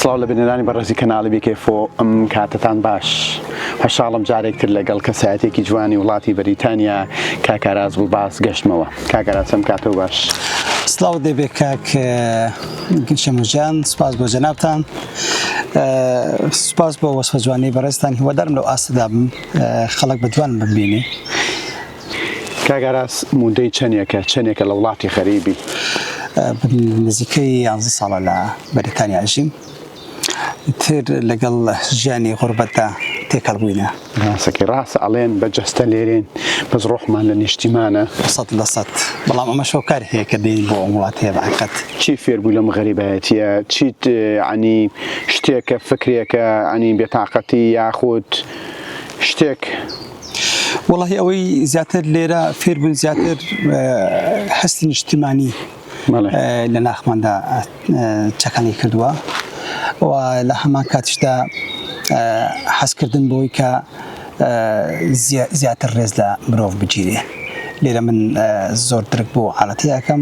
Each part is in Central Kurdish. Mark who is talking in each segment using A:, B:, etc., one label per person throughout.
A: سڵاو لە بینەرانی بەڕێزی کەناڵی بیکێفۆ ئەم کاتتان باش هەشاڵم جارێک تر لەگەڵ کەسایەتێکی جوانی وڵاتی بەریتانیا کاکاراز بوو باس گەشتمەوە کاکەراسەم کاتەوە باش سلااو دەبێ
B: کاک شەمەژان سپاس بۆ جەنابان سپاس بۆ وەسفە جوانی بەڕێستان هیوادارم لەو ئاستدا بم خەڵک بە جوان ببینێ کاک ئاراس
A: مودەی چەنێکە چەنێکە لە وڵاتی غەریبی؟ من
B: نزیکەی یانزە ساڵە لە بەریتانیا ئەژیم تر لەگەڵ ژیانی غوربەتدا تێکەڵ بووینە. ڕاستەکەی ڕاستە
A: ئەڵێن بە جەستە لێرێن بەس ڕۆحمان لە نیشتیمانە. سەد لە سەد
B: بەڵام ئەمەش هۆکار هەیە کە دێین بۆ ئەم وڵاتە هەیە بە حەقیقەت. چی فێر بوو لەم
A: غەریبایەتییە؟ چیت یەعنی شتێکە فکرێکە یەعنی بێتاقەتی یاخود شتێک؟
B: وەڵاهی ئەوەی زیاتر لێرە فێربوون زیاتر هەستی نیشتیمانی لە ناخماندا چەکەڵی کردووە و لە هەمان کاتیشدا حەزکردن بۆی کە زیاتر ڕێز لە مرۆڤ بگیرێ لێرە من زۆر درک بۆ عاەتەکەم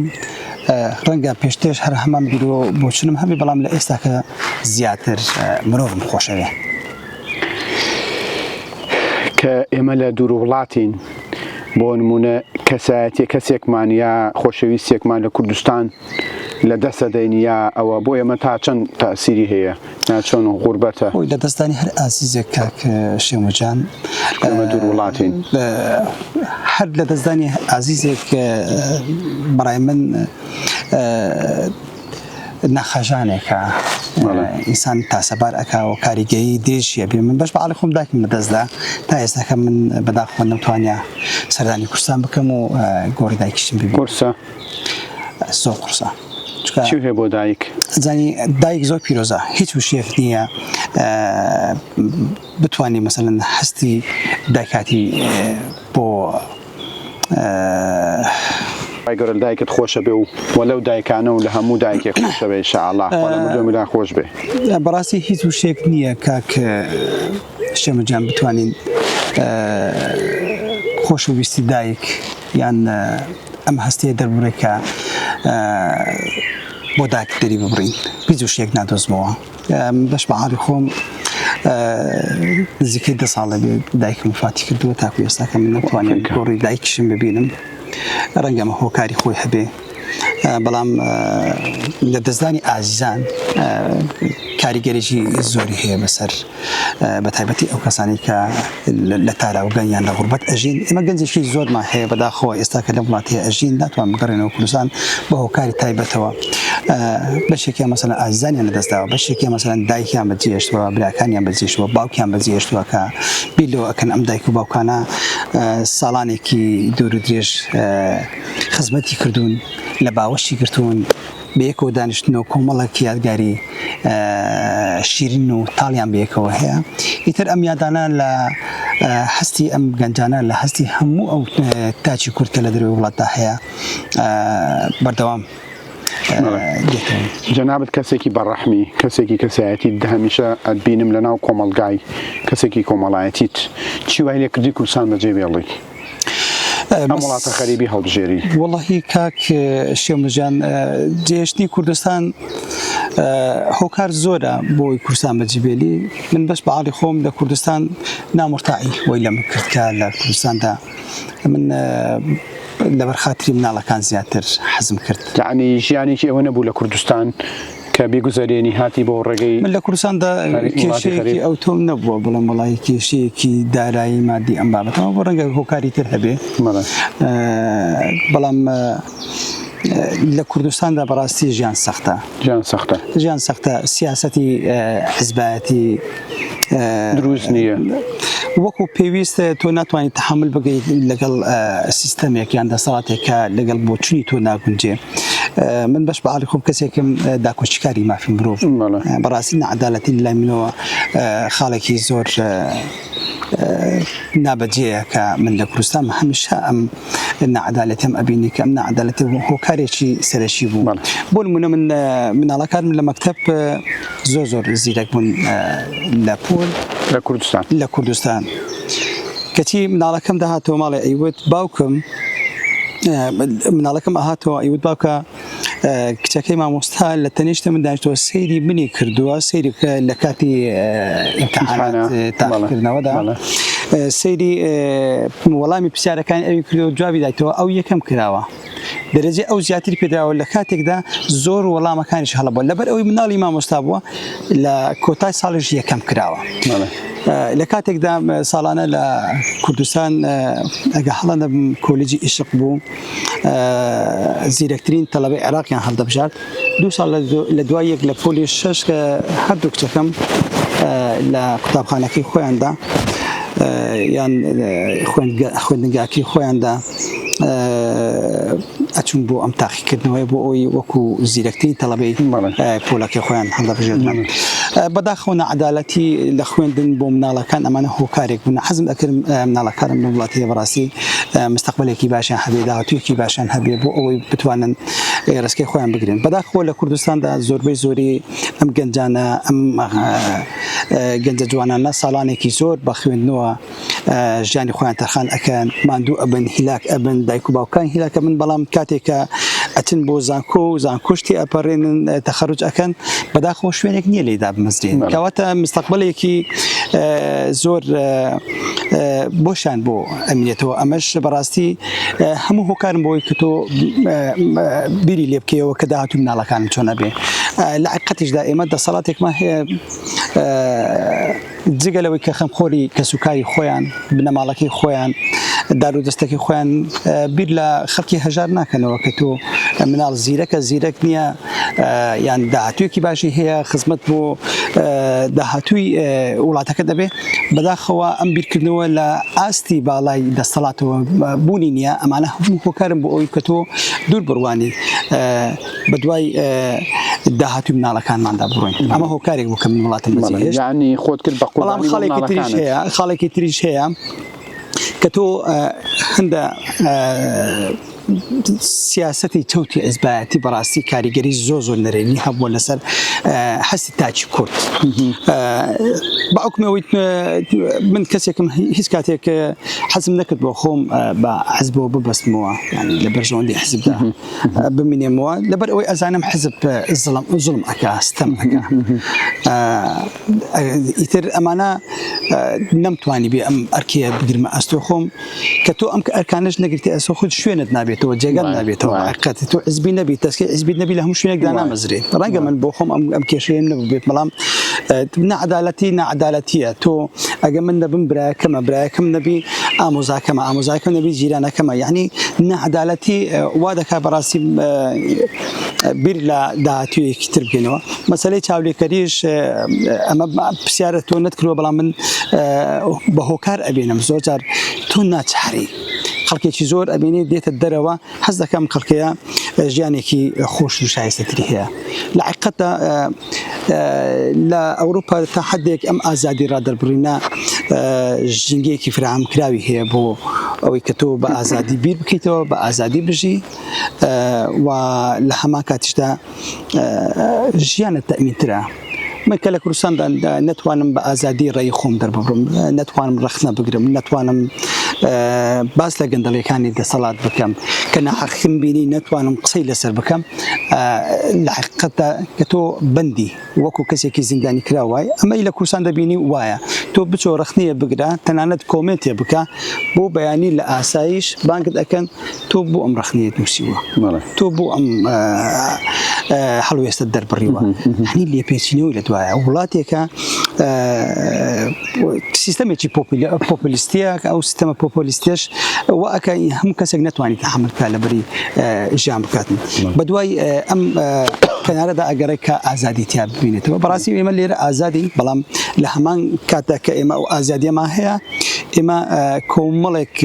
B: ڕەنگە پێشتێش هەر هەمان بیرۆ بۆچنم هەمی بەڵام لە ئێستاکە زیاتر مرۆڤم خۆشەوێ.
A: کە ئێمە لە دوورووڵاتین، بۆ نموونە کەسایەتیە کەسێکمان یا خۆشەویستێکمان لە کوردستان لە دەستەدەین یا ئەوە بۆ ئێمە تا چەند تاسیری هەیە یا چۆن غوربەتە؟ خۆی لە دەستدانی هەر
B: ئازیزێک کاک شێمەجان ئێمە
A: دوورووڵاتین
B: هەر لە دەستدانی ئازیزێک بەڕای من نەخەژانێکە ئینسان تاسەبار ئەکا و کاریگەی درێژیە بێ من بەش بەعالی خۆم داکم بەدەستدا تا ئێستاکە من بەداخۆ نەتوانیا سەردانی کورسان بکەم و گۆڕی دایکیشتم ببی قورسە زۆر قورسە هەیە بۆ
A: دایک زانی دایک
B: زۆر پیرۆزە هیچ وشێف نییە بتانی مەسەن هەستی دایکاتی بۆ
A: ئەه. خوای گەورە لەدایکت خۆشەبێ و لەو دایکانە و لە هەموو دایکێک خۆشەبێ ان شاء اللە خوا لە مردووی هەمووتان خۆش بێ. بەڕاستی هیچ
B: وشەیەک نییە کاک شێمە جان بتوانین خۆش و ویستی دایک یان ئەم هەستەیە دەربڕێکە بۆ دایک دەری ببڕین هیچ وشەیەک نادۆزمەوە. بەش بەحاڵی خۆم نزیکەی دە ساڵە بێ دایکم فاتی کردووە تاکو ئێستاکەم نەتوانێت گۆڕی دایکشم ببینم ڕەنگەمە هۆکاری خۆی هەبێ بەڵام لە دەستدانی ئازیزان کاریگەریی زۆری هەیە بەسەر بە تایبەتی ئەو کەسانی کە لە تاراوگە یان لە غوربەت ئەژین ئێمە گەنجێکی زۆرمان هەیە بەداخەوە ئێستا کە لەم وڵاتەیە ئەژین ناتوان بگەڕێنەوە کوردستان بە هۆکاری تایبەتەوە بەشێکیان مەسەلەن ئازیزانیان لەدەستداوە بەشێکیان مەسەلەن دایکیان بەجێشتووە براکانیان بەجێشتووە باوکیان بەجێشتووە کە بیر لەوە ئەکەن ئەم دایک و باوکانە ساڵانێکی دوور و درێژ خزمەتی کردوون لە باوەشی گرتوون بەیەکەوە دانیشتن و کۆمەڵێک یادگاری شیرین و تاڵیان بەیەکەوە هەیە ئیتر ئەم یادانە لە هەستی ئەم گەنجانە لە هەستی هەموو ئەو تاچی کورد کە لە دەروی وڵاتدا هەیە بەردەوام جەنابەت
A: کەسێکی بەڕەحمی کەسێکی کەسایەتی هەمیشە ئەبینم لە ناو کۆمەلگای کەسێکی کۆمەڵایەتیت چی وای لێ کردی کوردستان بەجێ بێڵی ئەم وڵاتە خەریبی هەڵبژێری وڵی کاک
B: شێمەجان جێشتنی کوردستان هۆکار زۆرە بۆی کوردستان بەجیبێلی من بەس بەعاڵی خۆم لە کوردستان نامرتاعی وی لەم کردکە لە کوردستاندا من لەبەر خاتری مناڵەکان زیاتر حەزم کرد یعنی ژیانێکی
A: ئەوە نەبوو لە کوردستان کە بیگوزەرێنی هاتی بۆ ڕێگەی من لە کوردستاندا
B: کێشەیەکی ئەو تۆم نەبووە بڵم وڵی کێشەیەکی دارایی مادی ئەم بابەتەوە بۆ ڕەنگە هۆکاری تر هەبێ بەڵام لە کوردستاندا بەڕاستی ژیان سەختە ژیان سەختە ژیان سەختە سیاستی حزبایەتی دروست
A: نییە وەکو
B: پێویستە تۆ ناتوانانی تحمل بگەیت لەگەڵ سیستەمێکیان دەساتێکە لەگەڵ بۆچووی تۆ ناگونجێ من بەش بە علی خۆم کەسێکم داکۆچکاری مافی مرۆڤ بەڕاستی نەعادالەتی لای منەوە خاڵێکی زۆر نابەجێە کە من لە کوردستان هەمیشە ئەم نەعادالەتم ئەبینی کە ئەم نەعادالەتی هۆکارێکی سەرەکی بوو بۆ منە من مناڵەکانم لە مەکتب زۆر زۆر زیرەک بوون لە پۆل لە کوردستان لە کوردستان کەچی مناڵەکەم داهاتەوە ماڵێ ئەیوت باوکم مناڵەکەم ئەهاتەوە ئەیوت باوکە کچەکەی مامۆستا لە تەنیشتە من داشتەوە سەیری منی کردووە سەیری لە کاتی تاکردنەوەدا سەیری وەڵامی پرسیارەکان ئەوی کردو جوابی دایتەوە ئەو یەکەم کراوە دەرەجێ ئەو زیاتر پێدراوە لە کاتێکدا زۆر وەڵامەکانیش هەڵە بووە لەبەر ئەوی مناڵی مامۆستا بووە لە کۆتای ساڵیش یەکەم کراوە لە کاتێکدا ساڵانە لە کوردستان ئەگە هەڵە نەبم کۆلیجی ئیشق بوو زیرەکترین تەلەبەی عێراقیان هەڵدەبژارد دوو ساڵ لە دوای یەک لە پۆلی شش کە هەردوو کچەکەم لە قوتابخانەکەی خۆیاندا یان خوێندگاکی خۆیاندا ئەچوون بۆ ئەم تاقیکردنەوەی بۆ ئەوی وەکو زیرەکترین تەڵەبەی پۆلەکەی خۆیان هەڵدەبژێنن بەداخەوە نەعەدالەتی لە خوێندن بۆ مناڵەکان ئەمانە هۆکارێک بوون حەزم ئەکرم مناڵەکانم لە وڵاتی بەڕاستی مستەقبلێکی باشیان هەبێ داهاتویەکی باشیان هەبێ بۆ ئەوەی بتوانن ڕسکی خۆیان بگرن بەداخەوە لە کوردستاندا زۆربەی زۆری ئەم گەنجانە ئەم گەنجە جوانانە ساڵانێکی زۆر بە خوێندنەوە ژیانی خۆیان تەرخان ئەکەن ماندوو ئەبن هیلاک ئەبن دایک و باوکان هیلاک ئەبن بەڵام کاتێک کە ئەچن بۆ زانکۆ و زانکۆش تێ ئەپەڕێنن تەخەروج ئەکەن بەداخەوە شوێنێک نییە لێی دابمەزرێن کەواتە مستەقبەلێکی زۆر بۆشان بۆ ئەمینێتەوە ئەمەش بەڕاستی هەموو هۆکارم بۆی کە تۆ بیری لێ بکەیەوە کە داهاتوو مناڵەکانم چۆنە بێ لە عقەتیشدا ئێمە دەسەڵاتێکمان هەیە جگە لەوەی کە خەمخۆری کەسوکاری خۆیان، بنەماڵەکەی خۆیان، دارودەستەکەی خۆیان بیر لە خەڵکی هەژار ناکەنەوە کە تۆ مناڵ زیرەکە زیرەک نییە یان داهاتوویەکی باشی هەیە خزمەت بۆ داهاتووی وڵاتەکە دەبێ بەداخەوە ئەم بیرکردنەوە لە ئاستی باڵای دەستەڵاتەوە بوونی نییە ئەمانە هەموو هۆکارن بۆ ئەوی کە تۆ دوور بڕوانی بەدوای داهاتوی مناڵەکانماندا بڕۆین ئەمە هۆکارێک بوو کە من وڵاتم بەزیانی خۆت کرد بە
A: قوڵام خاڵێکی تریش
B: هەیە خاڵێکی تریش هەیە کە تۆ هەندە سیاستی چوتی ئەزبایەتی بەڕاستی کاریگەری زۆ زۆر نەرێنی هەبووە لەسەر حەسی تاچی کورد باوکمەوەی من کەسێکم هیچ کاتێک حەزم نەکرد بۆ خۆم بە حەزبەوە ببەستمەوە لە بەرژەوەندی حزبدا بمینێمەوە لەبەر ئەوەی ئەزانم حزب زڵم زڵم ئەکا ستەم ئەکا ئیتر ئەمانە نەمتوانی بێ ئەم ئەرکەیە بگرمە ئەستۆ خۆم کە تۆ ئەم ئەرکانش نەگرتی ئەسۆ خود شوێنت نابێتەوە جێگەت نابێتەوە ئەرکەت تۆ حزبی نەبی تەسکی حزبی نەبی لە هەموو شوێنێکدا نامەزرێت ڕەنگە من بۆ خۆم ئەم کێشەیەم نەبێت بەڵام نەعادالەتی نەعادالەتیە تۆ ئەگە من نەبم برایەکەمە برایەکەم نەبی ئامۆزاکەمە ئامۆزاکە نەبی جیرانەکەمە یعنی نەعدالەتی وا دەکات بەڕاستی بیر لە داهاتویەکی تر بکەینەوە مەسلەی چاولێکەریش ئەمە پرسیارە تۆ نەتکرەوە بەڵام من بە هۆکار ئەبێنم زۆر جار تۆ ناچاری خەڵکێکی زۆر ئەبینێ دێتە دەرەوە حەز دەکەم کەڵکەیە ژیانێکی خۆش و شایستەتری هەیە لە عقەتە لە ئەوروپا تا حدێک ئەم ئازادی ڕادەربڕینە ژینگەیەکی فرام کراوی هەیە بۆ ئەوەی کە تۆ بە ئازادی بیر بکەیتەوە بە ئازادی بژی و لە هەما کاتیشدا ژیانە تەمینترە من کە لە کوردستاندا نتوانم بە ئازادی ڕێی خۆم دەرببڕم نتوانم ڕخنە بگرم نتوانم باس لە گەندەڵیەکانی دەسەڵات بکەم کە ناحەقیم بینی نتوانم قسەی لەسەر بکەم لە حقیقتدا کە تۆ بندی وەکو کەسێکی زیندانی کراو وای ئەمەی لە کوردستان دەبینی و وایە تۆ بچۆ رەخنەیە بگرە تەنانەت کۆمێنتێ بکە بۆ بەیانی لە ئاسایش بانگت ئەکەن تۆ بۆ ئەم رەخنەیەت نووسیوە تۆ بۆ ئەم هەڵوێستە دەربڕیوە هەنی لێپێچینەوەی لە دوایە وڵاتێکە سیستەمێکی پۆپلیستیە کە ئەو سیستەمە پۆپۆلیستێش و ئەکە هەم کەسێک نتوانانی تەحملکە لە بری ژیان بکات بە دوای ئەم کەنارەدا ئەگەڕێک کە ئازادی تیا ببینێتەوە بەڕاستی ئێمە لێرە ئازادی بەڵام لە هەمان کاتە کە ئێمە ئەو ئازادیەمان هەیە ئێمە کۆمەڵێک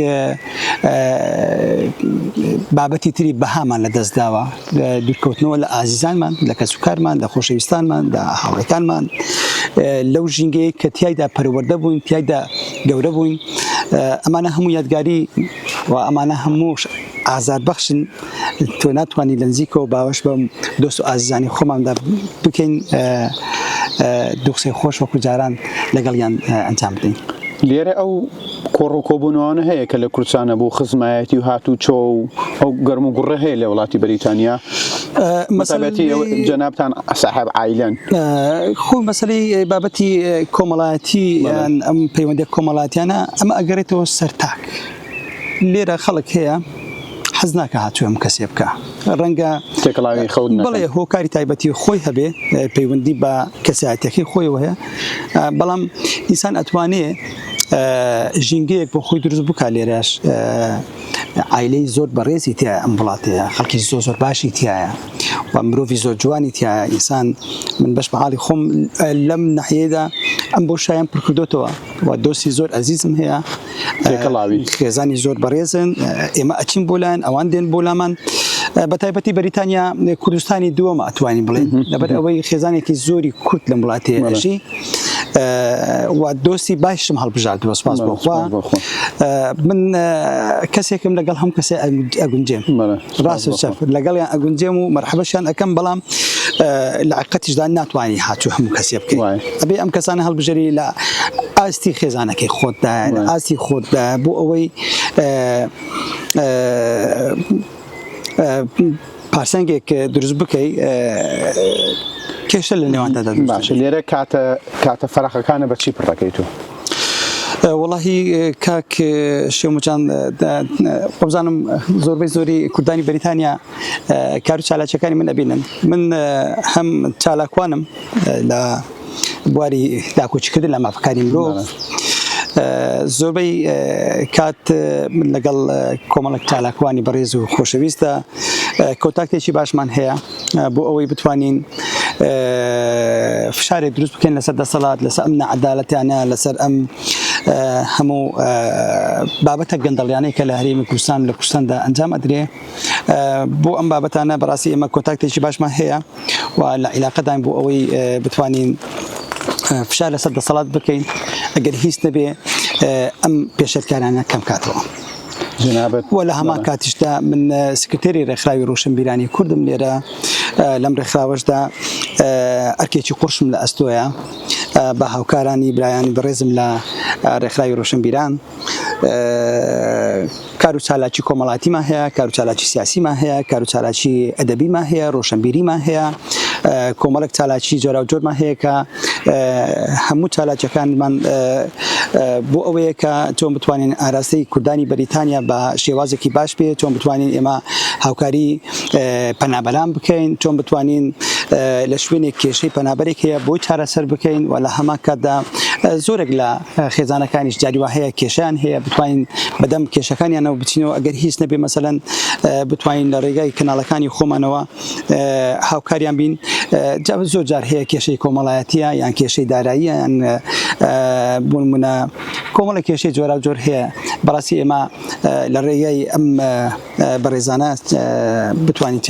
B: بابەتی تری بەهامان لە دەستداوە دوورکەوتنەوە لە ئازیزانمان، لە کەسوکارمان، لە خۆشەویستانمان، لە هاوڕێکانمان، لەو ژینگەیەی کە تیایدا پەروەردە بووین، تیایدا گەورە بووین، ئەمانە هەموو یادگاری و ئەمانە هەموو ئازاربەخشن، تۆ ناتوانی لە نزیکەوە باوەش بە دۆست و ئازیزانی خۆماندا بکەین، دوو قسەی خۆش وەکو جاران لەگەڵیان ئەنجام بدەین. لێرە ئەو
A: کۆڕ و کۆبوونەوانە هەیە کە لە کورچانە بۆ خزمایەتی و هاتووچۆ و ئەو گەرم و گوڕە هەیە لە وڵاتی بەریتانیا مەسەبەتی جەنابان ساحب عیلەن خۆ
B: مەسلی بابەتی کۆمەڵایەتی ئەم پەیوەندی کۆمەڵاتیانە ئەمە ئەگەرێتەوە سەرتاک لێرە خەڵک هەیە حەز ناکە هاتووەم کەسێ بکە ڕەنگە تێکڵاوی خەوت
A: بڵێ هۆکاری تایبەتی
B: خۆی هەبێ پەیوەندی بە کەساتەکەی خۆی وەیە بەڵام ئینسان ئەتوانێ ژینگەیەک بۆ خۆی دروست بکە لێرەش ئایلەی زۆر بەڕێزی تیا ئەم وڵاتەیە خەڵکی زۆ زۆر باشی تایە و مرۆڤ زۆر جوانی تیا ئینسان من بەش بەحاڵی خۆم لەم نەحەیەدا ئەم بۆ شایان پرکردوتەوە و دۆستی زۆر ئەزیزم هەیە کەڵاوی خێزانی زۆر بەڕێزن ئێمە ئەچین بۆ لایەن ئەوان دێن بۆ لامان بە تایبەتی بەریتانیا کوردستانی دووەمە ئەتوانین بڵێن لەبەر ئەوەی خێزانێکی زۆری کورد لەم وڵاتێژی و دۆستی باشم هەڵبژاردووە سپاس بۆ خوا من کەسێکم لەگەڵ هەم کەسێ ئەگونجێم ڕاست چەپ لەگەڵیان ئەگونجێم و مەرحەبەشیان ئەەکەم بەڵام لە عقەتیشدا ناتوانانی هاتوو هەموو کەسێ بکەین ئەبێ ئەم کەسانە هەڵبژێری لە ئاستی خێزانەکەی خۆتدا ئاستی خۆتدا بۆ ئەوەی پارسەنگێک دروست بکەی کێشە لە نێواندا باشە لێرە کاتە
A: کاتە فراخەکانە بەچی پڕەکەی تۆ وڵی
B: کاک شێموجان خۆزانم زۆربەی زۆری کوردانی بریتانیا کار و چالاچەکانی من ئەبینن من هەم چالاکوانم لە بواری داکۆکیکردن لە مافەکانی مرۆڤ زۆربەی کات لەگەڵ کۆمەڵک چالاکوانی بەڕێز و خۆشەویستە کۆتاکتێکی باشمان هەیە بۆ ئەوەی بتوانین فشارێک دروست بکەین لەسەر دەسەڵات لەسەر ئەم نەعدالەتیانە لەسەر ئەم هەموو بابەتە گەندەڵیانەی کە لە هەرێمی کوردستان لە کوردستاندا ئەنجام ئەدرێ بۆ ئەم بابەتانە بەڕاستی ئێمە کۆتاکتێکی باشمان هەیە و لە عیلاقەدان بۆ ئەوەی بتوانین فشار لەسەر دەسەڵات بکەین ئەگەر هیچ نەبێ ئەم پێشەرکارانە کەم کاتەوە. جنابت و لە هەمان کاتیشدا من سکرتێری ڕێکخراوی ڕوشنبیرانی کوردم لێرە لەم ڕێکخراوەشدا ئەرکێکی قڕشم لە ئەستۆیە بە هاوکارانی برایانی بەڕێزم لە ڕێکخراوی ڕوشنبیران کار و چالاکی کۆمەڵاتیمان هەیە، کار و چالاکی سیاسیمان هەیە، کار و چالاکی ئەدەبیمان هەیە، ڕۆشنبیریمان هەیە، کۆمەڵێک چالاکی جۆراوجۆرمان هەیە کە هەموو چالاکیەکانمان بۆ ئەوەیە کە چۆن بتوانین ئاراستەی کوردانی بەریتانیا بە شێوازێکی باش بێت، چۆن بتوانین ئێمە هاوکاری پەنابەران بکەین، چۆن بتوانین لە شوێنێک کێشەی پەنابەرێک هەیە بۆی چارەسەر بکەین و لە هەمان کاتدا زۆرێک لە خێزانەکانیش جاری وا هەیە کێشەیان هەیە بتوانین بەدەم کێشەکانیانەوە بچینەوە ئەگەر هیچ نەبێ مەسەلەن بتوانین لە ڕێگای کەناڵەکانی خۆمانەوە هاوکاریان بین جا زۆر جار هەیە کێشەی کۆمەڵایەتیە یان کێشەی داراییە یان بۆ منە کۆمەڵە کێشەی جۆرا و جۆر هەیە بەڕاستی ئێمە لە ڕێگای ئەم بەڕێزانە بتوانین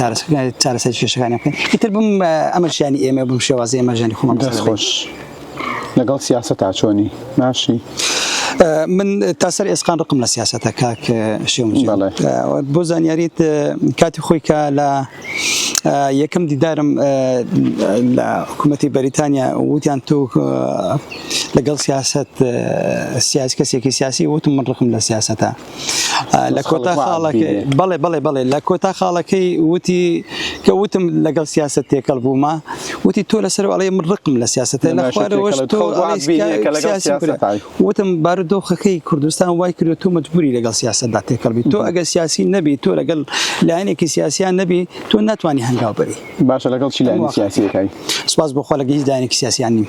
B: چارەسەر کێشەکانی بکەین ئیتر بم ئەمەشیانی ئێمە بم شێوازی ئێمەژانی خۆمان خۆش.
A: لەگەڵ سیاسەتا چۆنی باشی؟
B: من تا سەر ئێسقان ڕقم لە سیاستە کاک شێم بۆ زانیاریت کاتی خۆی کە لە یەکەم دیدارم لە حکوومەتی بەریتانیا وتیان تۆ لەگەڵ سیاست سیاسی کەسێکی سیاسی وتم من ڕقم لە سیاستە لە کۆتا خاڵەکەی بەڵێ بەڵێ بەڵێ لە کۆتا خاڵەکەی وتی کە وتم لەگەڵ سیاست تێکەڵ بوومە وتی تۆ لەسەر ئەڵێ من ڕقم لە سیاستە لە خوارەوەش تۆ وتم بارودۆخەکەی کوردستان وای کرد تۆ مجبوری لەگەڵ سیاستدا تێکەڵ بی تۆ ئەگەر سیاسی نەبی تۆ لەگەڵ لایەنێکی سیاسیان نەبی تۆ ناتوانانی هەنگاو بری باشە لەگەڵ چی لایەن
A: سیاسیەکەی سپاس بۆخوا لەگەهیز
B: دایانێکی سیاسیان نیم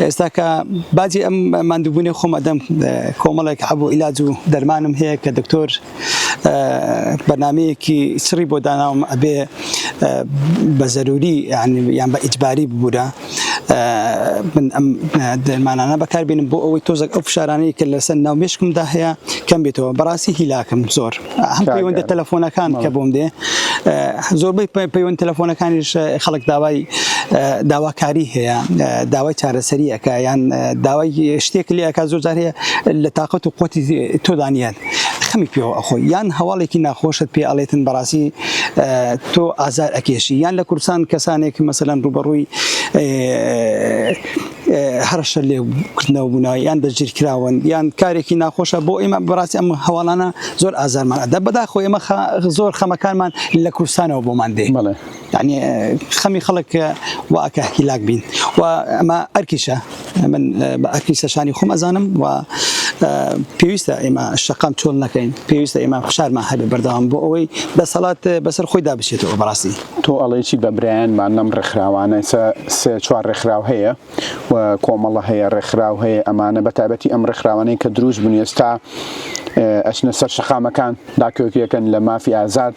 B: ئێستا کە باجی ئەم ماندووبوونی خۆم ئەدەم کۆمەڵێک عەب و ئیلاج و دەرمانم هەیە کە دکتۆر بەرنامەیەکی سڕی بۆ داناوم ئەبێ بە زەروری یان بە ئیجباری ببوورە من ئەم دەرمانانە بەکاربێنم بۆ ئەوەی تۆزەک ئەو فشارانەی کە لەسەر ناو مشکمدا هەیە کەم بێتەوە بەڕاستی هیلاکم زۆر. هەم پەیوەندە تەلەفۆنەکان کە بۆم دێ زۆربەی پەیوەند تەلەفۆنەکانیش خەڵک داوای داواکاری هەیە داوای چارەسەریەکە یان داوای شتێک لەکە زۆر جارێ لە تااقەت و قوتی تۆدانیان خەمی پێوە ئەخۆی یان هەواڵێکی ناخۆشت پێ ئەڵێتن بەڕاستی تۆ ئازار ئەکێشی یان لە کوردستان کەسانێک مەسەلاەن ڕوبەڕووی هەڕەشە لێ کردنەوە بوونا یان دەستگیر کراون یان کارێکی ناخۆشە بۆ ئێمە بەڕاستی ئەم هەواڵانە زۆر ئازارمان ئەدا بەداخۆ ئێمە زۆر خەمەکانمان لە کوردستانەوە بۆمان دێ یعنی خەمی خەڵک واکە هیلاک بین و ئەمە ئەرکیشە من بە ئەرکی سەشانی خۆم ئەزانم و پێویستە ئێمە شەقام چۆل نەکەین پێویستە ئێمە فشارمان هەبێ بەردەوام بۆ ئەوەی دەسەڵات بەسەر خۆیدا بچێتەوە بەڕاستی تۆ ئەڵێی چی بە
A: برایانمان لەم ڕێکخراوانە ئێستا سێ چوار ڕێکخراو هەیە و کۆمەڵە هەیە ڕێکخراو هەیە ئەمانە بە تایبەتی ئەم ڕێکخراوانەی کە دروست بوون ئێستا ئەچنە سەر شەقامەکان داکۆکیەکەن لە مافی ئازاد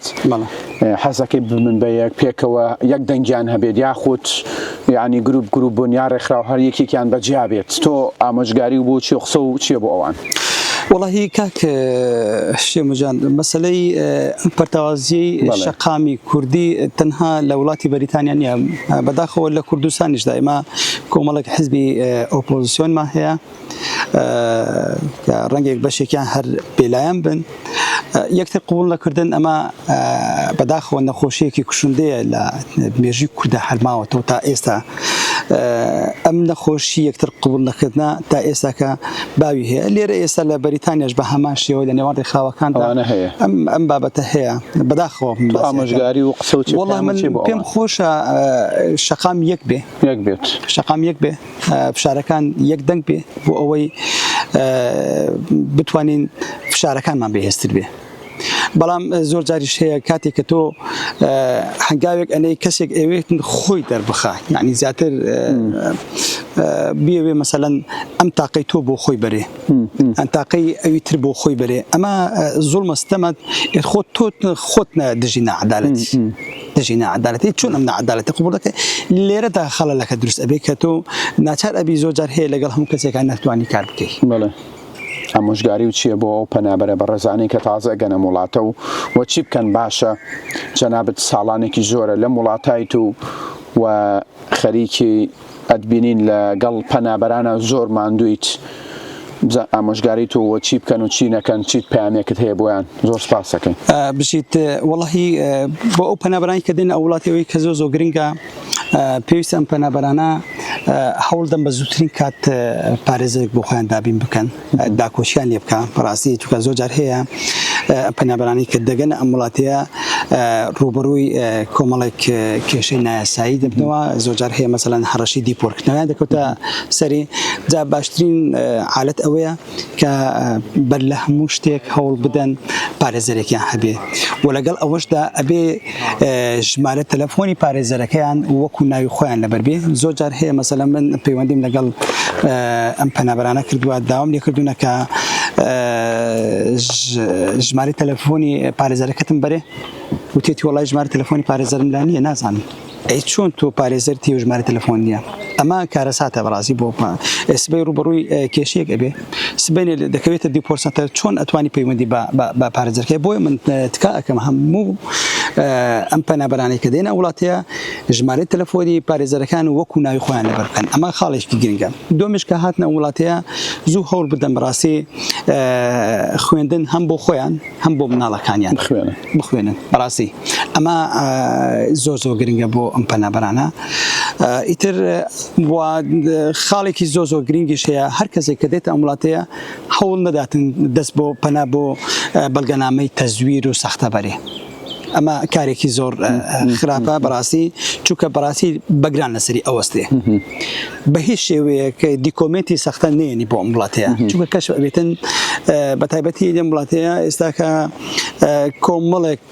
A: حەزەکەی بمن بە یەک پێکەوە یەک دەنگیان هەبێت یاخود یعنی گروپ گروپ بوون یا ڕێکخراو هەر یەکێکیان بەجیا بێت تۆ ئامۆژگاری و بۆ چی قسە و چیە بۆ ئەوان وەڵاهی کاک
B: شێ مجان مەسلەی ئەم پەرتاوازیەی شەقامی کوردی تەنها لە وڵاتی بەریتانیا نیە بەداخەوە لە کوردستانیش دایمە کۆمەڵک حزبی ئۆپۆزیسیۆنمان هەیە ڕەنگێک بەشێکیان هەر پێلایەن بن یەکتر قبوڵ نەکردن ئەمە بەداخەوە نەخۆشیەکی کوشندەیە لە مێژوی کوردا هەر ماوەتەوە تا ئێستا ئەم نەخۆشی یەکتر قبوڵ نەکردە تا ئێستاکە باوی هەیە لێرە ئێستا لە بەریتانیاش بە هەمان شێوە لە نێوان ڕێکخراوەکان هەیە ئەم ئەم بابەتە هەیە بەداخەوە ئامۆژگاری و
A: قسە و چی پێم
B: خۆشە شەقام یەک بێ یەک بێت شەقام یەک بێ فشارەکان یەک دەنگ بێ بۆ ئەوەی بتوانین فشارەکانمان بەهێزتر بێ بەڵام زۆر جاریش هەیە کاتێک کە تۆ هەنگاوێک ئەنەی کەسێک ئەوێت خۆی دەربخە یعنی زیاتر بێوێ مەسەەن ئەم تاقی تۆ بۆ خۆی بەرێ ئەم تاقی ئەوی تر بۆ خۆی بەرێ ئەمە زۆر مەستەمە خۆ تۆ خۆت دژی نەعادالەتی دژی ناعەدالەتی چۆن ئەم ناعەدالەتە قبوڵ دەکەی لێرەدا خەڵەلەکە دروست ئەبێ کە تۆ ناچار ئەبی زۆر جار هەیە لەگەڵ هەموو کەسێکا نەتوانی کار بکەی. بەڵێ
A: ئامۆژگاری و چیە بۆ ئەو پەنابەرە بەڕێزانەی کە تازە ئەگەن ئەم وڵاتە و و چی بکەن باشە جەنابت ساڵانێکی زۆرە لەم وڵاتایت و و خەریکی ئەتبینین لە گەڵ پەنابەرانە زۆر ماندوویت بزە ئامۆژگاری تۆ وە چی بکەن و چی نەکەن چیت پامێکت هەیە بۆیان زۆر سپاسەکەین بژیت
B: وەڵی بۆ ئەو پەنابرانی کە دێنە ئەو وڵاتەوەی کە زۆ زۆ گرنگە پێویست ئەم پەنابەرانە هەوڵدەم بە زووترین کات پارێزێک بۆ خۆیان دابین بکەن. داکۆکیان لێ بکا بەڕاستی چونکە زۆر جار هەیە پەنابەرانی کە دەگەنە ئەم وڵاتەیە ڕوبەڕووی کۆمەڵێک کێشەی نایاسایی دەبنەوە زۆر جار هەیە مەسەلەن هەڕەشی دیپۆرکردنەوەیان دەکەوتە سەری جا باشترین حالت ئەوەیە کە بەر لە هەموو شتێک هەوڵ بدەن پارێزەرێکیان هەبێ و لەگەڵ ئەوەشدا ئەبێ ژمارە تەلەفۆنی پارێزەرەکەیان وەکو ناوی خۆیان لەبەر بێ زۆر جار هەیە مەسەلە من پەیوەندیم لەگەڵ ئەم پەنابرانە کردووە داوام لێ کردوونە کە ژماری تەلەفۆنی پارێزەرەکەتم بەرێ وتێتی وڵای ژماری تەلەفۆنی پارێزەرم لا نییە نازانم ئەی چۆن تۆ پارێزەر تێژماری تەلەفۆن نیە ئەمە کارەساتە بەڕازی بۆ ئێسبەی ڕوبڕووی کێشێک ئەبێ سبەینێ دەکەوێتە دیپۆر سەنتەر چۆن ئەتوانی پەیوەندی بە پارێزەرکەی بۆیە من تکا ئەەکەم هەموو ئەم پەنابەرانی کە دێنە وڵاتەیە ژمارەی تەلەفۆنی پارێزەرەکان وەکو ناوی خۆیان لەبەر بکەن ئەمە خاڵێکی گرنگە دومش کە هاتنە وڵاتەیە زوو هەوڵ بدەن بەڕاستی خوێندن هەم بۆ خۆیان هەم بۆ مناڵەکانیان بخوێنن بەڕاستی ئەمە زۆر زۆر گرنگە بۆ ئەم پەنابەرانە ئیتر خاڵێکی زۆر زۆر گرنگیش هەیە هەر کەسێک کە دێتە ئەم وڵاتەیە هەوڵ نەداتن دەست بۆ پەنا بۆ بەڵگەنامەی تەزویر و سەختە بەرێ ئەمە کارێکی زۆر خراپە بەڕاستی چووکە بەڕاستی بەگران لەسەری ئەوەستێ بە هیچ شێوەیەک دیکۆمێنتی سەختە نێنی بۆ ئەم وڵاتەیە چونکە کەش ئەبێتن بە تایبەتی لەم وڵاتەیە ئێستاکە کۆمەڵێک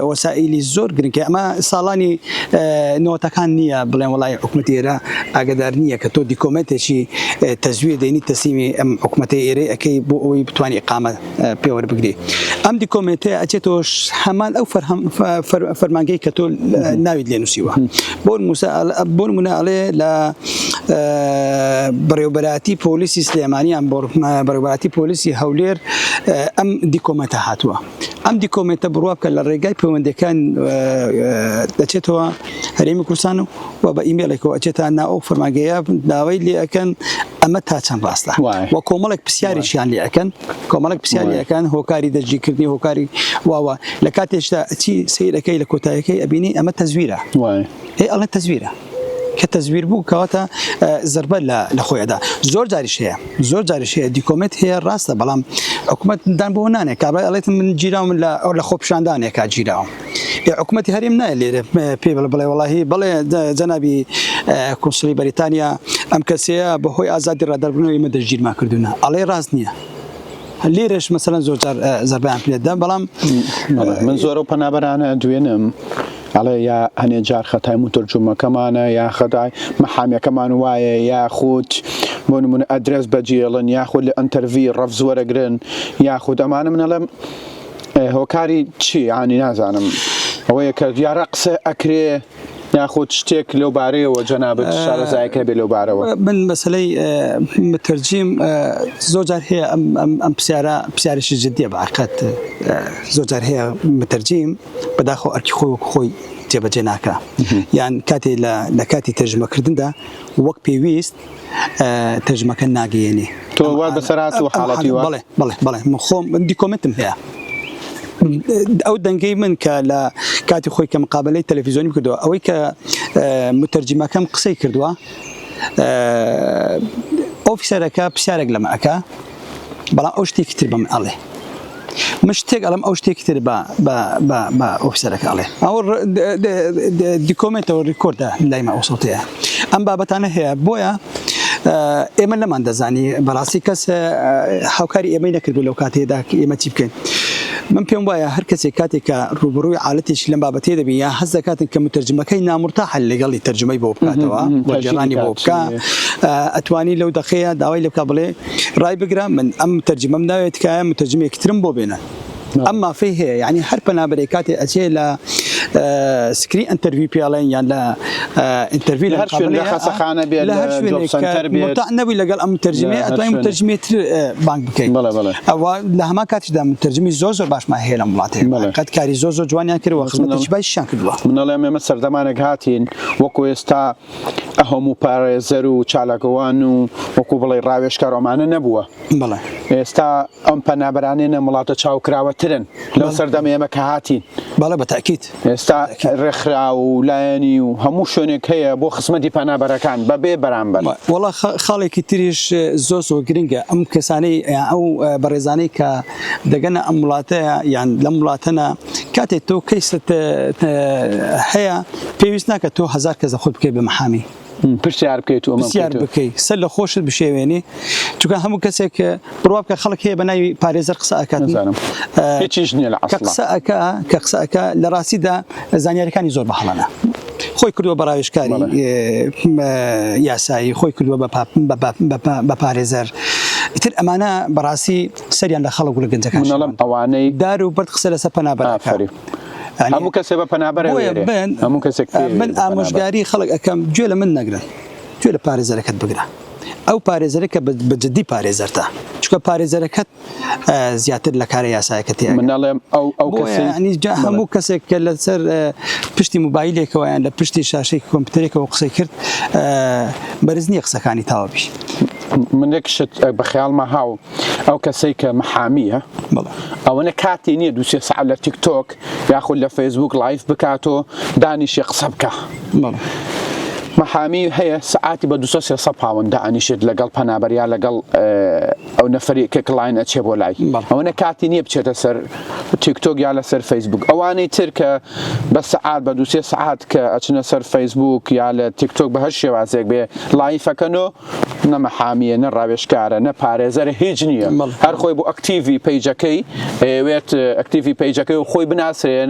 B: وەسائیلی زۆر گرنگکە ئەمە ساڵانی نەوەتەکان نییە بڵێن وڵی حکوومەت ئێرە ئاگدار نییە کە تۆ دیکۆمێنتێکی تەزویر دێنی تەسیمی ئەم حکوومەتی ئێرەی ئەەکەی بۆ ئەوی بتوانانی قامە پێوەربگرێ ئەم دیکۆمێنتەیە ئەچێتەوە هەمان ئەو فەرمانگەی کە تۆ ناویت لێ نووسیوە بۆن موسا بۆن مناڵێ لە بەڕێوبەراتی پۆلیسی سلێمانیان بۆ بەڕێباتی پۆلیسی هەولێر ئەم دیکۆمێنتە هاتووە ئەم دیکۆمێنتە بڕوا بکە لە ڕێگای پەیوەندەکان دەچێتەوە هەرێمی کوردستان و و بە ئیمێڵێکەوە ئەچێتە ناو ئەو فەرمانگەیە داوای لێ ئەکەن ئەمە تا چەند ڕاستە و کۆمەڵێک پرسیاریشیان لێ ئەەکەن کۆمەڵک پرسیاریەکان هۆکاری دەستگیرکردنی هۆکاری واوە لە کاتێشدا چی سیرەکەی لە کۆتایەکەی ئەبینی ئەمە تەزویرە هەی ئەڵە تەزویرە کە تەزویر بوو کەواتە زربە لە خۆیدا زۆر جاریش هەیە زۆر جاریش هەیە دیکۆمنت هەیە ڕاستە بەڵام حکوومەت دان بۆ نانێک کابرای ئەڵێت من گیراوم لە ئەو لە خۆپشاندانێکا گیراوم ئێ حکومەتی هەرێم نایە لێرە پێی بڵێ بڵێ وەڵاهی بڵێ جەنابی کونسڵی بەریتانیا ئەم کەسەیە بەهۆی ئازادی ڕادەربوونەوە ئمە دەژگیرمان کردوونە ئەڵێ ڕاست نییە. لێرەش مەسەرەن زۆر جار زەربیان پێدەم بەڵام من
A: زۆر و پەنابەرانە دوێنم ئەڵێ یا هەنێ جار خەتای مترجومەکەمانە یا خەدای مەحامیەکەمان وایە یا خودت بۆ نمونە ئەدرس بەجێڵن یاخود لە ئەتەرڤی ڕەفزوەرەگرن یاخود ئەمانە منەڵم هۆکاری چی یانی نازانم ئەوەیە کە دیارە قسە ئەکرێ یاخود شتێک لەو بارەیەوە جەنابت شارەزایەک هەبێ لەو بارەوە من مەسلەی
B: مترجیم زۆر جار هەیە ئەم پرسیارە پرسیارێکی جددیە بە عقد زۆر جار هەیە مترجیم بەداخۆ ئەرکی خۆی وەک خۆی جێبەجێ ناکە یان کاتێ لە کاتی تەرجمەکردندا وەک پێویست تەرجمەکە ناگەیەنێ. تۆ وات بەسەر
A: هاتووە حاڵەتی وا؟ بەڵێ بەڵێ بەڵێ من خۆم
B: دیکۆمێنتم هەیە. ئەو دەنگەی من کە لە کاتی خۆی کە مقابلەی تەلەفیزۆنی کردووە ئەوەی کە متەرجمەکەم قسەی کردووە ئۆفیسەرەکە پرسیارێک لەمە ئەکا، بەڵام ئەو شتێکی تر بەم ئەڵێ من شتێک ئەڵم ئەو شتێکی تر بە ئۆفسەرەکە ئەڵێ ئەو دیکۆمنتەوە ڕیکۆردە لایمە ئەوسڵتەیە ئەم بابەتانە هەیە بۆیە ئێمە نەمان دەزانی بەڕاستی کەس هاوکاری ئێمەی نەکردبوو لەو کاتێدا ئێمە چی بکەین من پێم وایە هەر کەسێک کاتێک کە ڕوبڕووی عاالەتێک لەم بابەتێ دەبی یا هەز دەکاتن کە مترجمەکەی نامرتا حل لەگەڵی تەرجمەی بۆ بکاتەوە وەجیرانی بۆ بکە ئەتوانی لەو دەخەیە داوای لە بکە بڵێ ڕایبگرە من ئەم تەرجمەم ناوێت تکایە متەرجمێکی ترم بۆ بێنە ئەم مافەی هەیە یعنی هەر پەنابەرێک کاتێ ئەچێ لە سکری ئەتەروی پێڵێن یان لە ئەتەروی لە خەسەخانە
A: بێت
B: نەبووی لەگەڵ ئەم تەرجمێ ئەتوای تەرجمێ تر بانک بکەین ئەوە لە هەما کاتیشدا تەرجمی زۆر زۆر باشمان هەیە لە وڵاتی قەت کاری زۆر زۆر جوانیان کردوە خزمەتشبایشیان کردووە منڵێ ئێمە سەردەمانێک
A: هاتین وەکو ئێستا ئهموو پارێزەر و چالاکوان و وەکو بڵێی ڕاوێژکار ئەمانە نەبووە. بەڵێ. ئێستا ئەم پەنابەرانەی نەم وڵاتە چاوکراوەترن لەو سەردەم ئێمە کە هاتین. بەڵێ بە تاکید.
B: ئێستا
A: ڕێکخرا و لایەنی و هەموو شوێنێک هەیە بۆ خزمەتی پەنابەرەکان بە بێ بەرامبەر. وەڵا خاڵێکی
B: تریش زۆر زۆر گرنگە ئەم کەسانەی ئەو بەڕێزانەی کە دەگەنە ئەم وڵاتەیە یان لەم وڵاتەنە، کاتێ تۆ کەیست هەیە پێویست ناکە تۆ هزار کەس خۆت بکەی بە محامی پرسیار بکەیت
A: و پرسیار بکەی سەر لە
B: خۆشت بشێوێنی چونکە هەموو کەسێک بڕوا بکە خەڵک هەیە بە ناوی پارێزەر قسە ئەکات هیچیش
A: نیە لە قسە ئەک کە قسە
B: ئەک لە ڕاستیدا زانیارەکانی زۆر بە هەڵەنە خۆی کردووە بەڕاوێشکاری یاسایی خۆی کردووە بە پارێزەر ئیتر ئەمانە بەڕاستی سەریان لە خەڵک و لە گەنجەکان شێواندووە. من ئەڵێم ئەوانەی. دار
A: و بەرد قسە لەسەر
B: پەنا بەرەکە. ئافەرین. یانی. هەموو
A: کەسێ بە پەنا بەرە بۆیە وێرێ. بن. هەموو کەسێک پێ وێرێ من بە پەنا بەرە. ئامۆژگاری
B: خەڵک ئەکەم گوێ لە من نەگرن. گوێ لە پارێزەرەکەت بگرە. ئەو پارێزەرە کە بە جدی پارێزەرتە. چونکە پارێزەرەکەت زیاتر لە کارە یاسایەکە تێ ئەگا. من ئەڵێم ئەو ئەو
A: بۆیە کەسەی. یانی جا بەڵێ. هەموو
B: کەسێک کە لەسەر پشتی موبایلێکەوە یان لە پشتی شاشەی کۆمپیوتەرێکەوە قسەی کرد بەرز نییە قسەکانی تاوە بی. من یەک
A: شت بە خەیاڵما هاو. ئەو کەسەی کە محامیە ئەوەنە کاتی نییە دو سێ سعات لە تیکتۆک یاخود لە فەیسبوک لایف بکاتۆ دانیشێ قسە بکە محامی هەیە سعاتی بە دو سێ سە پاوەند دانیشێت لەگەڵ پەنابەریا لەگەڵ ئەو نەفری کە کلاین ئەچێ بۆ لای ئەوەنە کاتی نییە بچێتە سەر تیکتۆک یا لەسەر فەیسبوک ئەوانەی تر کە بە سعات بە دو سێ سعات کە ئەچنە سەر فەیسبوک یا لە تیکتۆک بە هەر شێوازێک بێ لایفەکەنۆ نە مەحامیە نە ڕاوێژکارە نە پارێزەرە هیچ نییە هەر خۆی بۆ ئەکتیڤی پەیجەکەی ئەوێت ئەکتیڤی پەیجەکەی و خۆی بناسرێن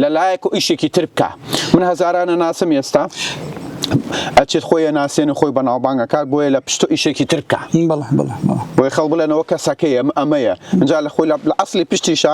A: لە لایەک و ئیشێکی تر بکە من هەزارانە ناسم ئێستا ئەچێت خۆی ناسێن و خۆی بەناوبانگەکات بۆیە لە پشت و ئیشێکی ترکە بۆی خەڵ بڵێنەوە کەسەکەی ئەم ئەمەیە جا لە خۆی لە ئەاصلی پشتیشە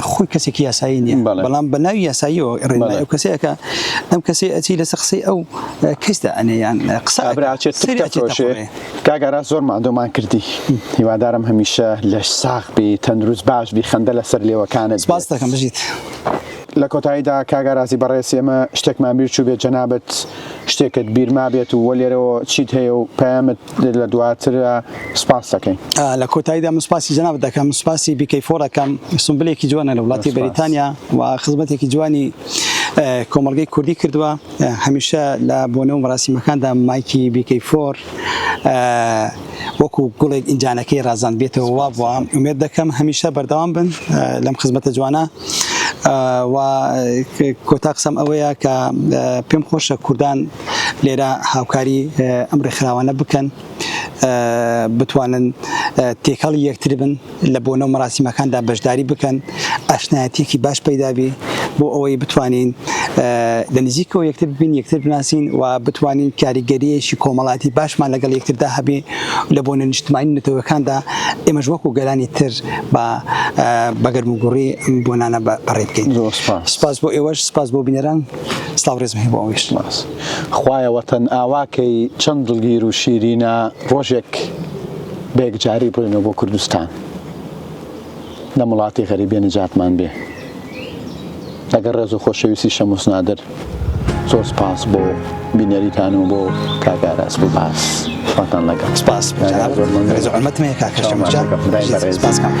B: خۆی کەسێکی یاسایی نیە بەڵام بە ناوی یاساییەوە ڕێنمای ئەو کەسەیەکە ئەم کەسێ ئەچی لەسەر قسەی ئەو کەسدا ئەنەیان قسە
A: کاگەرا زۆر مادۆمان کردی هیوادارم هەمیشە لەش ساخ بی تەندروست باش بی خەندە لەسەر لێوەکانت باس دەکەم بژیت.
B: لە
A: کۆتاییدا کاگارازی بەڕێز ئێمە شتێکمان بیر چوو بێت جەنابەت شتێکت بیرما بێت و وە لێرەوە چیت هەیە و پەیامت لە دواتر سپاس دەکەین. لە کۆتاییدا من
B: سپاسی جەنابت دەکەم، سپاسی بیکەی فۆر ئەکەم، سونبلێکی جوانە لە وڵاتی بەریتانیا و خزمەتێکی جوانی کۆمەڵگەی کوردی کردووە، هەمیشە لە بۆنە و مەراسیمەکاندا مایکی بیکەی فۆر وەکو گوڵێک ئینجانەکەی ڕازاندبێتەوە وا بووە، ئومێد دەکەم هەمیشە بەردەوام بن لەم خزمەتە جوانە. و کۆتا قسەم ئەوەیە کە پێم خۆشە کوردان لێرە هاوکاری ئەم ڕێکخراوانە بکەن بتوانن تێکەڵی یەکتربن لە بۆنە و مەراسیمەکاندا بەشداری بکەن ئاشنایەتێکی باش پەیدابی بۆ ئەوەی بتوانین لە نزیکەوە یەکتر ببین یەکتر بناسین و بتوانین کاریگەریەکی کۆمەڵاتی باشمان لەگەڵ یەکتردا هەبێ لە بۆنە نیشتمانی نەتەوەکاندا ئێمەش وەکو گەلانی تر بە بەگەرم و گوڕی بۆنانە بەڕێ بکەین سپاس بۆ ئێوەش سپاس بۆ بینەران سلاو ریزم هەیە بۆ ئەوەی شتم ئەنوس. خوایە
A: وەتەن ئاوا کەی چەند دڵگیر و شیرینە ڕۆژێک بەیەکجاری بڕۆینەوە بۆ کوردستان لەم وڵاتی غەریبیە نەجاتمان بێ لەگەڵ ڕێز و خۆشەویستی شەموس نادر زۆر سپاس بۆ بینەریتان و بۆ کاک ئاراس بۆ باس خواتان لەگەڵ
B: سپاس زۆر مەمنون. ڕێز و حورمەتم هەیە کاکە شەموس جان. سپاس کاکە.